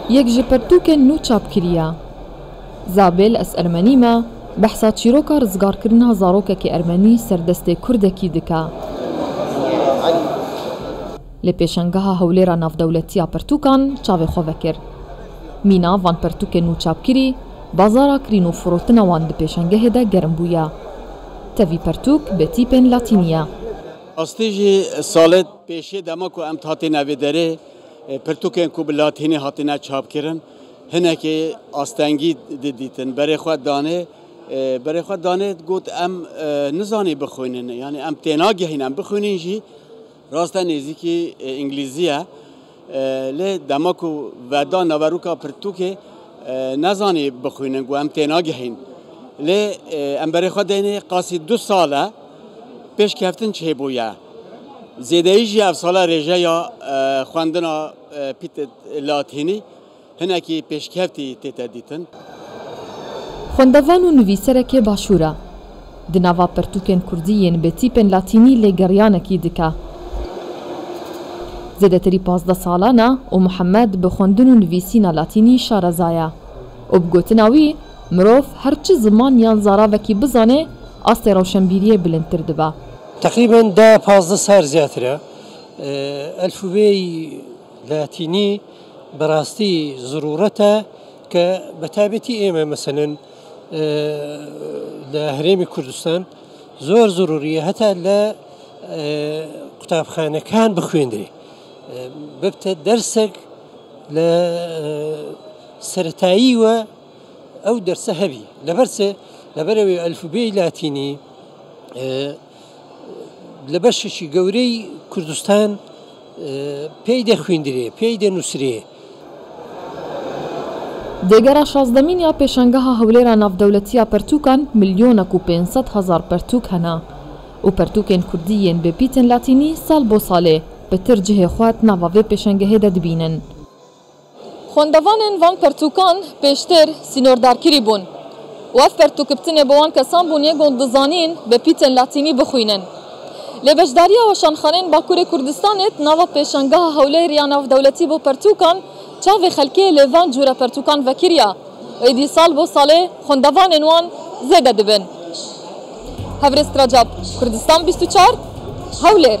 Yek ji pirtûkên nû çap kiriye. Zabel ez ermenî me, behsa çîroka rizgarkirina zarokekî ermenî ser destê kurdekî dike. Li Pêşangeha Hewlêra Navdewletî ya Pirtûkan çavê xwe vekir. Mîna van pirtûkên nû çapkirî, bazara kirîn û firotina wan di pêşangehê de germ bûye. Tevî pirtûk bi tîpên latînî ye. Astê jî Salet. Pêşê dema ku em hatine vê derê pirtûkên ku bi latînî hatine çapkirin hinekî astengî didîtin. Berê xwe danê berê xwe danê got em nizanî bixwînin. Yanî em tênagehîn em bixwînin jî raste nêzîkî îngilîzî ye. Lê dema ku veda naverûka pirtûkê ne zanî bixwînin ku em tênagihîn. Lê em berê xwe deynê qasî du sal e pêşkeftin çêbûye. Zêdeyî jî ev sala rêjeya xwendina Pîtit Latînî Hinekî pêşkevtî tê te dîtin. Xwendevan û nivîserekê başûr e. Di nava pirtûkên kurdî yên bi tîpên latînî lê geriyanekî dike. Zêdetirî pazdeh salan e û Muhemed bi xwendin û nivîsîna latînî şareza ye û bi gotina wî, mirov her çi ziman yan zaravekî bizanê, astê rewşenbîriyê bilindtir dibe. Teqrîben deh pazdeh sar zêdetir e. Elfûbeyê latînî. Bi rastî zerûret e ke bi taybetî ême meselên li herêmê Kurdistan zor zerûrî ye heta li qutabxanekan bixwîndrê. Bibite dersek li seretayî we ew derse hebî. Li ber çi? Li ber ewê elfûbeyê latînî. Li beşekî gewrî Kurdistan peyde xwîndirê, peyde nûsirê. Dê gera şazdemîn ya Pêşangeha Hewlêra Navdewletî ya Pertûkan milyonek û pênc sed hezar pertûk hene û pertûkên kurdî yên bê pîtên latînî sal bo salê pitir cihê xwe di nava vê pêşangehê de dibînin. Xwendevanên van pertûkan pêştir sînordarkirî bûn û ev pertûkibtinê bo wan kesan bû nêgond dizanîn bi pîtên latînî bixwînin. Lê beşdariya weşanxaneyên Bakurê Kurdistanê di nava pêşangeha hewlêr ya navdewletî bo pertûkan çavê xelkê lê van cûre pertûkan vekiriya û êdî sal bo salê xwendevanên wan zêde dibin. Hevrêz Kracap, Kurdistan bîst û çar, Hewlêr.